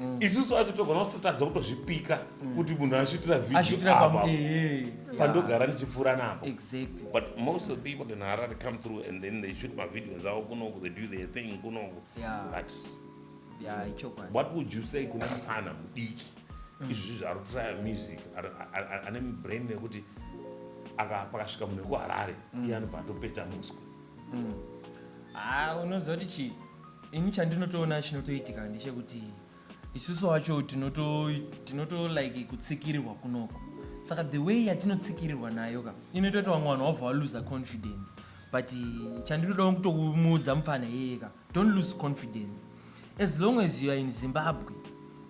Mm. isusu acho togona kutotadza kutozvipika mm. kuti munhu ashutira videoapa eh, pandogara ndichipfuura napo exactly but most of people in harare come through and then they shoot mavideos avo kunoku they do their thing kunoku but what would you say kune mupfana mudiki mm. izvi zvaari kutraya music ane brain nekuti pakasvika munhu wekuharare iye anobva atopeta muswe ah, unozoti chii ini chandinotoona chinotoitika ndechekuti isusu wacho tinoto tinoto like kutsikirirwa kunoko saka the way yatinotsikirirwa nayo ka inoita kuti vamwe vanhu wabva waluza confidence but chandinodawo kutomuudza mupfana yeye ka don't lose confidence as long as you are in zimbabwe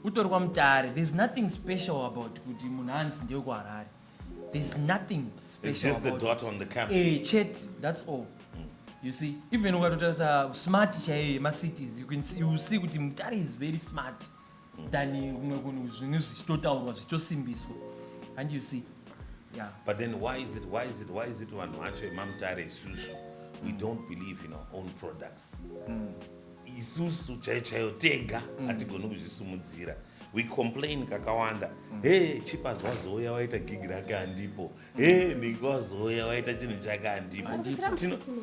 utori kwamutare there's nothing special about kuti munhu anzi ndewekuharare there's nothing special it's just the dot on the campus eh chat that's all mm. you see even ukatotarisa smart chaiyo yemacities you can see, you see kuti mutare is very smart mm. than kumwe kunhu zvinhu zvichitotaurwa zvichitosimbiswa and you see yeah but then why is it why is it why is it vanhu vacho emamutare isusu we don't believe in our own products mm. isusu chaiyo chaiyo tega mm. hatigoni mm. kuzvisumudzira we complain kakawanda mm. he chipa zvazoya waita gig rake handipo mm. he ndingawazoya waita chinhu chake handipo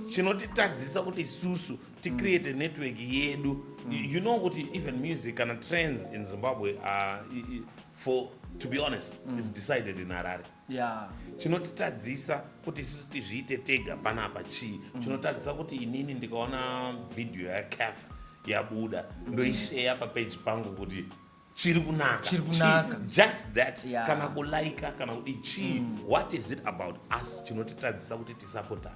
chinotitadzisa kuti isusu ticreate mm. network yedu mm. you know kuti even music kana trends in zimbabwe uh, for to be honest mm. is decided in harare yeah. chinotitadzisa kuti isusu tizviite tega panapa chii mm. chinotadzisa kuti inini ndikaona vhidhiyo yacaf yabuda mm. ndoisheya papeji pangu kuti chiri kunaka chiri kunaka just that yeah. kana kulaika kana kuti chii mm. what is it about us chinotitadzisa kuti tisapotane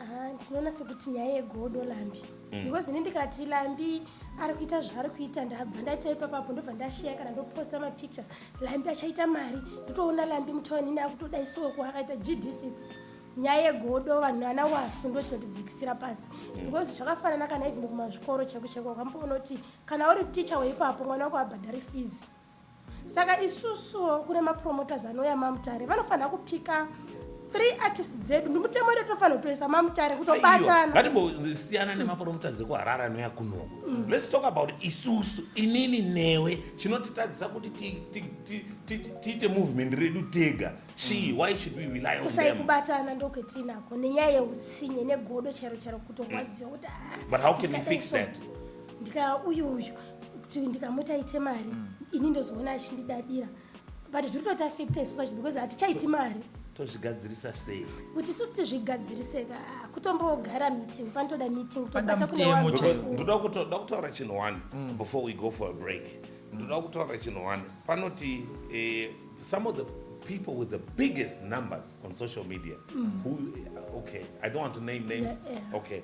Ah, ndinoona sekuti nyaya yegodo lambi mm. because ini ndikati lambi ari kuita zvaari kuita ndabva ndaita ipapapo ndobva ndasheya kana ndoposta mapictures lambi achaita mari ndotoona lambi mutawanini akutoda isoko akaita gd6 nyaya yegodo vanhu ana wasu ndo chinotidzikisira pasi mm. because zvakafanana kana even kumazvikoro cheko cheko ukamboona kuti kana uri ticha weipapo mwana wako abhadhari fees saka isusuwo kune mapromoters anouya mamutare vanofanira kupika three artists dzedu ndimutemo wedu tinofanira kutoisa mamutare kutobatana ngatimbosiyana nemapromoters ekuharara anoya kunoko mm. let's talk about isusu inini newe chinotitadzisa kuti tiite movement redu tega chii mm. why should we rely on kusai kubatana ndokwetinako nenyaya yeutsinye negodo chero chero kutorwadziwa kuti ah, but how can we fix that ndikaya uyu uyu kuti ndikamuti aite mari mm. ini ndozoona achindidadira but zviri kutoita affect isu zvacho because hatichaiti mari tozvigadzirisa sei kuti isusu tizvigadzirise kutombogara meeting panotoda meeting tobata kune ndoda kutaura chinhu one mm. before we go for a break ndoda kutaura chinhu one panoti eh, some of the people with the biggest numbers on social media mm. who okay i don't want to name names yeah, yeah. okay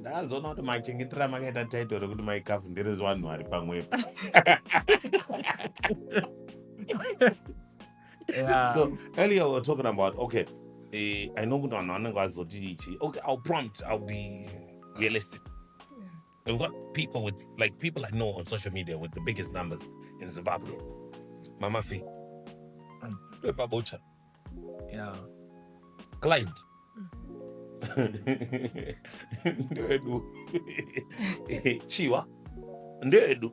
ndazoona kuti machengetera makaita title rekuti mai kafu nderezvanhu ari pamwepo yeah. so earlier we were talking about okay eh, i know kuti vanhu vanenge vazoti ichi okay ill prompt ill be realistic we've got people with like people i know on social media with the biggest numbers in zimbabwe mama fi mm. lepabocha yeah. client ndewedu chiwa ndewedu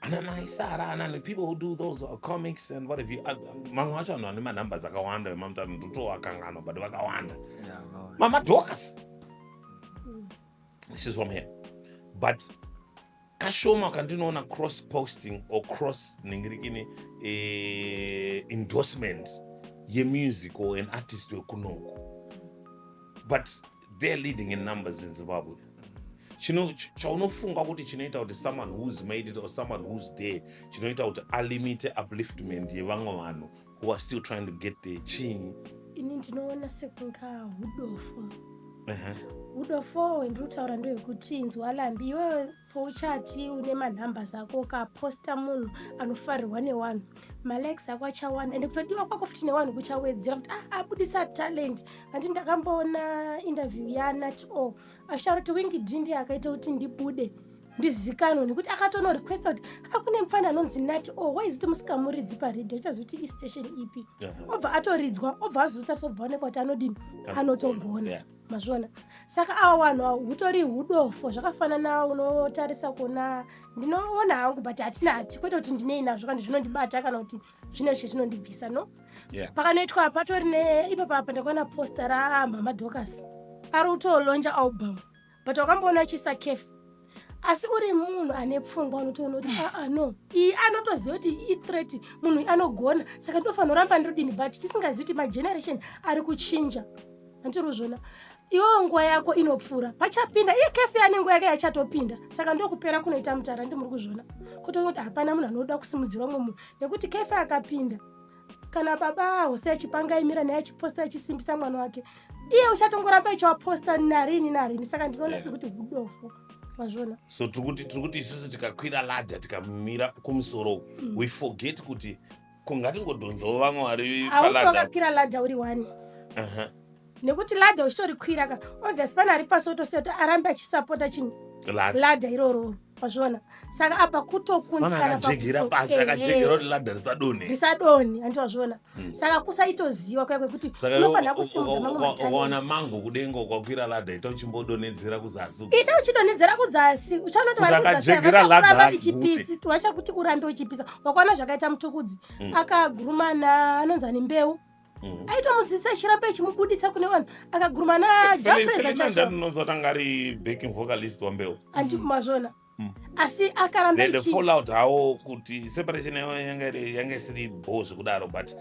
anamai sara anani people who do those uh, comics and what have you uh, mamwe acho anhu ane manumbers akawanda vemamutano ndotoakanganwa but vakawanda mama docas this is from here but kashoma kandinoona cross posting or cross ningirikini eh, endorsement yemusic or an artist wekunoku but they're leading in numbers in zimbabwe chino chaunofunga kuti chinoita kuti someone who's made it or someone who's there chinoita kuti alimite upliftment yevamwe vanhu who are still trying to get the chini ini ndinoona sekunga udofo udofo wendiri kutaura ndewekuti inzwa lambi iwewe pouchati une manhamba zako ukaposta munhu anofarirwa newanhu malikes ako achawanda ende kutodiwa kwako futi newanhu kuchawedzera kuti ah, abudisa talent handi ndakamboona interview yanat o asharo kuti wingidindi akaita kuti ndibude ndizikanwe nekuti akatono requesta kuti akune mfana anonzi nati o oh, waiziti musikamuridzi paredio ichazoti istation ipi obva atoridzwa obva azozota sobva onekwa kuti anodini anotogona mazviona saka awa wanhu awo hutori hudofo zvakafanana unotarisa kuona ndinoona hangu but hatina hati kwete kuti ndinei nazvo kandi zvinondibata kana kuti zvine zvishe zvinondibvisa no pakanoitwa patori ne ipapa apa ndakaona posta ramhamha docas ari kutolonja album but wakamboona achiisa caf asi uri munhu ane pfungwa unotoona kuti aa ah, ah, no iyi anotoziva kuti ithreat munhu anogona saka ndinofanira kuramba ndiridini but tisingazivi kuti mageneration ari kuchinja anditiri kuzviona iwewo nguva yako inopfuura pachapinda iye kefe ane nguva yake yachatopinda saka ndokupera kunoita mutara ndimuri kuzviona kutoona kuti hapana munhu anoda kusimudzira umwe munhu nekuti kefe akapinda kana baba awo sei achipanga aimira naye achiposta achisimbisa mwana wake iye uchatongoramba ichiwaposta narini narini saka ndinoona yeah. sekuti hudofo mazvona so tiri kuti tiri kuti isusu tikakwira ladha tikamira kumusoro mm. we forget kuti kungatingodhonzawo vamwe vari paladha aungakwira ladha uri one uh -huh. nekuti ladha uchitorikwira ka obvious pane ari pasi otosiya kuti arambe achisapota chinhu Lada. ladha iroro wazviona saka apa Mwana kutokundikana akajegera pakuso- pasi Ehe. akajegera kuti ladha risadonhe risadonhi hanti wazviona Mm. saka kusaitoziva kuya kwekuti saka unofanira kusimudza mamwe mataneti ukawana mango kudenga ukakwira ladha ita uchimbodonhedzera kuzasi uko. ita uchidonhedzera kudzasi uchaona kuti Kuti vari kudzasi ava akajegera vachakuramba ladha vichipisi vachakuti urambe uchipisa wakaona zvakaita mutukudzi Mm. akagurumana anonzi ani mbeu mm. aitomudzidzisa achiramba achimubuditsa kune vanhu akagurumana japreza chachonozotanga ari backing vocalist wambeu andi mazvona mm. asi akaramba fallout hawo kuti separation yawo yanga isiri bho zvekudaro but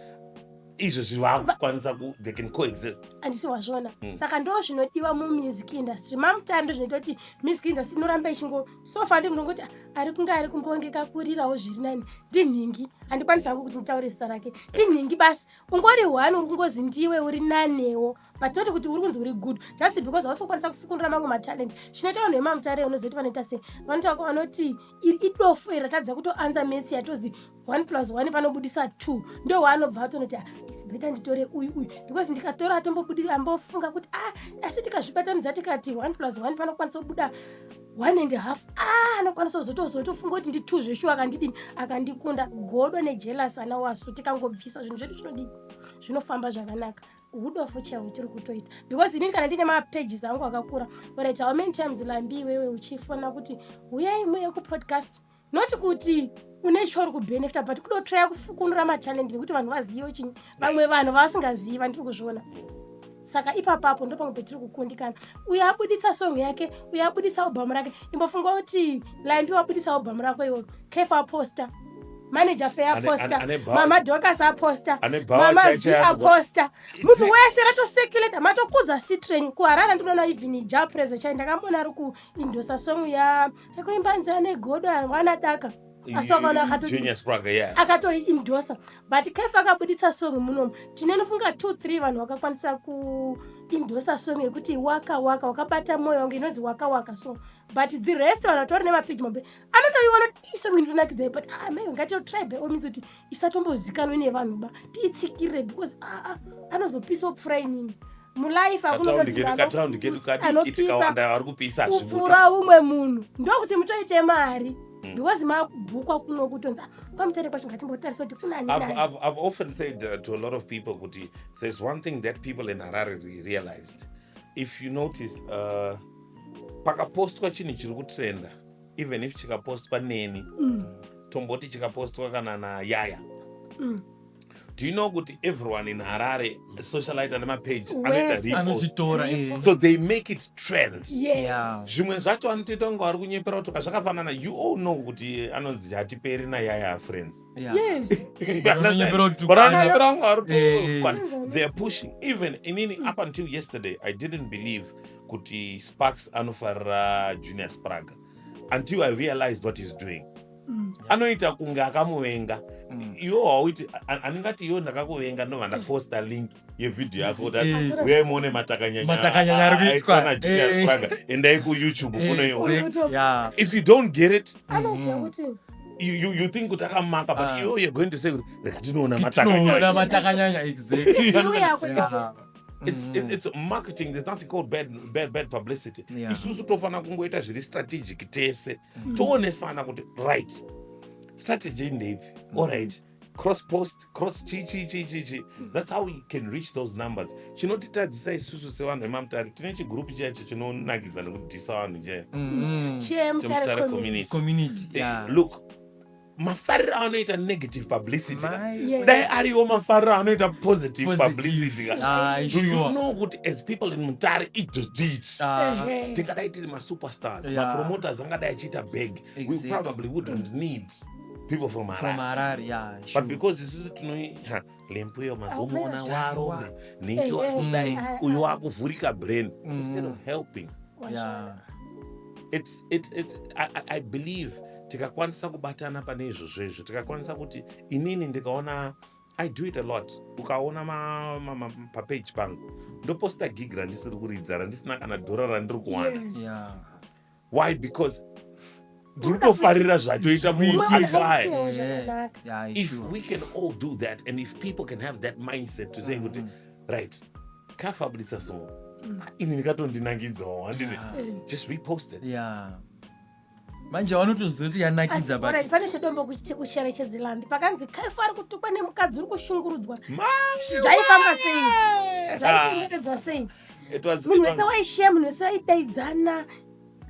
izvo zvivakukwanisa ku they can coexist andisi wazvona mm. saka ndo zvinodiwa mumusic industry mamutando zvinoita kuti music industry inoramba ichingo so far ndi munongoti ari kunge ari kumbongeka kurirawo zviri nani ndinhingi handikwanisa hangu kuti nditaure zita rake ndinhingi basi ungori one uri kungozi ndiwe uri nanewo but not kuti uri kunzi uri good just because hausi kukwanisa kufukunura mamwe matalent zvinoita vanhu vemamutare unozoti vanoita sei vanotaura vanoti idofo iri ratadza kutoanza metsi yatozi one plus one panobudisa two ndo waanobva atonoti ah, its better nditore uyu uyu because ndikatora atombobudiri ambofunga kuti ah asi tikazvibatanidza tikati one plus one panokwanisa kubuda one and half ah anokwanisa kuzotozotofunga kuti ndi two zveshuwa akandidini akandikunda godo nejelas ana wasu tikangobvisa zvinhu zvedu zvinodii zvinofamba zvakanaka hudofu chaiwo hutiri kutoita because inini kana ndine mapages angu akakura orit how many times lambi iwewe uchifona kuti huyai muye kupodcast not kuti une chauri kubenefita but kudotraya kufukunura matalent nekuti vanhu vazive chini vamwe vanhu vavasingazivi vandiri kuzviona saka ipapapo ndo pamwe petiri kukundikana uyo abuditsa song yake uyo abuditsa albhamu rake imbofunga kuti laimbi wabuditsa albhamu rako iwo kefa aposta manager fe aposta mama docas aposta mama v aposta munhu wese ratoseculator matokudza citren kuharara ndinoona even ja prese chai ndakamona ari kuindosa song yaani ekuimba nzira negodo hawana daka asi wakaona akatoindosa but kefa akabuditsa song munomu tine nofunga two three vanhu vakakwanisa kuindosa song yekuti waka waka wakabata mwoyo wangu inonzi waka waka so but the rest vanhu vatori nemapigmombe anotoiona isong inotonakidzai but amai ah, ngatitotribe omins kuti isatombozikanwe nevanhu ba tiitsikirire because aa anozopisawo pfura inini mulife akunoaanopisa umwe munhu ndokuti mutoite mari Mm. because mabhukwa kuno kutonzi ah, kwamutere kwacho ngatimbotarisa kuti kunaniive often said uh, to a lot of people kuti there's one thing that people in harare realized if you notice uh, pakapostwa chinhu chiri kutrenda even if chikapostwa neni mm. tomboti chikapostwa kana nayaya mm. do you know kuti everyone in harare socialite ane mapage anoitareposoanozvitora eh. so they make it trend zvimwe yes. zvacho anotoita kunge wari kunyepera kutoka zvakafanana you all know kuti anonzi hatiperi nayaya friends anonyepera kunge wari theyare pushing even inini up until yesterday i didn't believe kuti sparks anofarira junior spraga until i realized what he's doing Mm. anoita kunge akamuvenga Mm. iwo hauiti a- anengati iwo ndakakuvenga ndobva ndaposta link yevhidhiyo yako kuti ati, Eh. uyai muone matakanyanya Matakanyanya ari kuitwa. aitwa najunior Eh. spraga endai kuyoutube Eh, kunoiona exact- yeah. if you don't get it Anoziva Mhm. kuti you, you, you think kuti akamaka but Ah. you, you're going to say kuti reka tinoona Tinoona matakanyanya matakanyanya exactly. Iwe yako Yeah. it's- it's, mm -hmm. it's marketing there's nothing called bad, bad, bad publicity yeah. isusu tofanira kungoita zviri strategic tese mm -hmm. toonesana kuti right strategy ndeipi mm -hmm. allright cross post cross chi chi chi chi chi that's how you can reach those numbers chinotitadzisa isusu sevanhu vemamutare tine chigroup chiya chi chinonakidza nekudhisa vanhu chaya mm -hmm. chemutare community, community. Yeah. look mafariro anoita negative publicity ka. Mai. Yes. dai ariwo mafariro anoita positive Positive. publicity ka. Ah, do you sure. know kuti as people in mutare idzvodzviti Ah, Ehe. tingadai tiri masuperstars Yeah. mapromoters angadai achiita bag we Exactly. probably wouldn't need people from from harare Harare, yeah, but sure. because isusu tino ha, lembu iyo mazuva umoona warombe nhingi wasinai uyo wakuvhurika brain mm. instead of helping yeah. it's, it, it's, I, I believe tikakwanisa kubatana pane izvozvo izvo tikakwanisa kuti inini ndikaona i do it a lot ukaona papeji pangu ndoposta gig randisiri kuridza randisina kana dhora randiri kuwana yes. yeah why because ndiri kutofarira zvatoita munhu What is atry wrong? Yeah, yeah, yeah, if sure. we can all do that and if people can have that mindset to say kuti Mhm. right kafabuditsa song ini ndikatondinangidzawo handiti Yeah. just repost it Yeah. manje vanotoziva kuti yanakidza but Alright, pane chedombo kuchi- kucherechedzi landi pakanzi kaifa ari kutukwa nemukadzi uri kushungurudzwa zvaifamba sei zvaitenderedza sei munhu wese waisheya munhu wese aidaidzana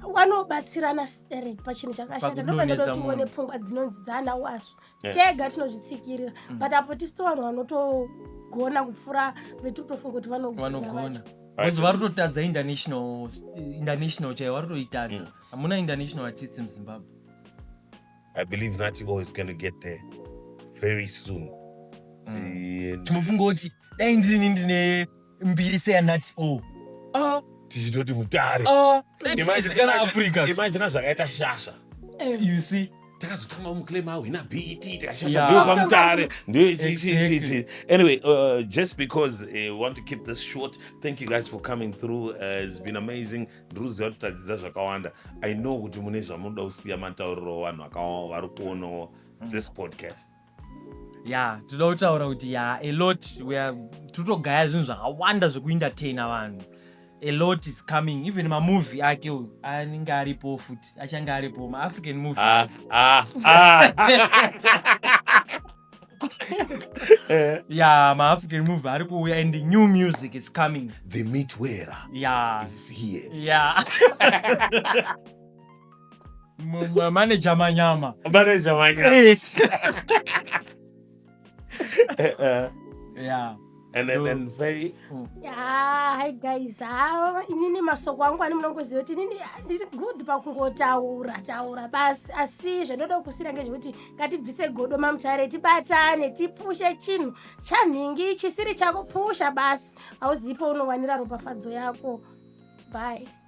wanobatsirana sterek pachinhu chakashata ndopandoda kuti uone pfungwa dzinonzi dzaana wasu eh. tega tinozvitsikirira mm. but apo tisi tovanhu vanotogona kupfuura vetiri kutofunga kuti vanogona bcause vari kutotadza international international chaiyo vari kutoitadza mm. hamuna international artist muzimbabwe i believe nati boy is going to get there very soon mm. timofunga kuti dai ndini ndine mbiri seyanati o Ah, tichitoti mutare ah, Imagine- imagine kana imagine- africa imagine zvakaita shasha you see takazotanga muclaim awo ina bet tikashasha Yeah. ndiyo kwamutare ndiyo ichi- ichi- ichi- Exactly. ichi. anyway uh, just because uh, we want to keep this short thank you guys for coming through uh, it's been amazing ndiri kuziva kuti tadzidza zvakawanda i know kuti mune zvamunoda kusiya matauriro vanhu akawa vari kuonawo this podcast ya tinoda kutaura kuti ya alot tirikutogaya zvinhu zvakawanda zvekuentertaina vanhu alot is coming even mamovie ake uyu anenge aripo futi achange aripo maafrican movie ah, ah, ah. Eh. ya maafrican movie ari kuuya and the new music is coming the mitwera ya is here ya manager manyama manager manyama eh. eh, eh. yeah and then, then very hmm. yeah, hi guys ah, inini masoko angu ani munongoziva kuti inini ah, ndiri good pakungotaura taura basi asi zvandoda kukusira ngezvekuti ngatibvise godo mamutare tibatane tipushe chinhu chanhingi chisiri chakupusha basi hauzipo unowanira ropafadzo yako bye